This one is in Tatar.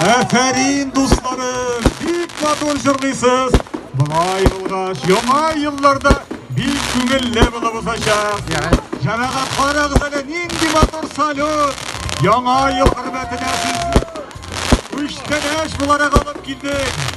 Афәрин, дусларым, бик матур җырлыйсыз. Болай булгач, яңа елларда бик күңелле булып узачак. Җәмәгать карагыз әле нинди матур салют. Яңа ел хөрмәтенә сезне үчтәнәш буларак алып килдек.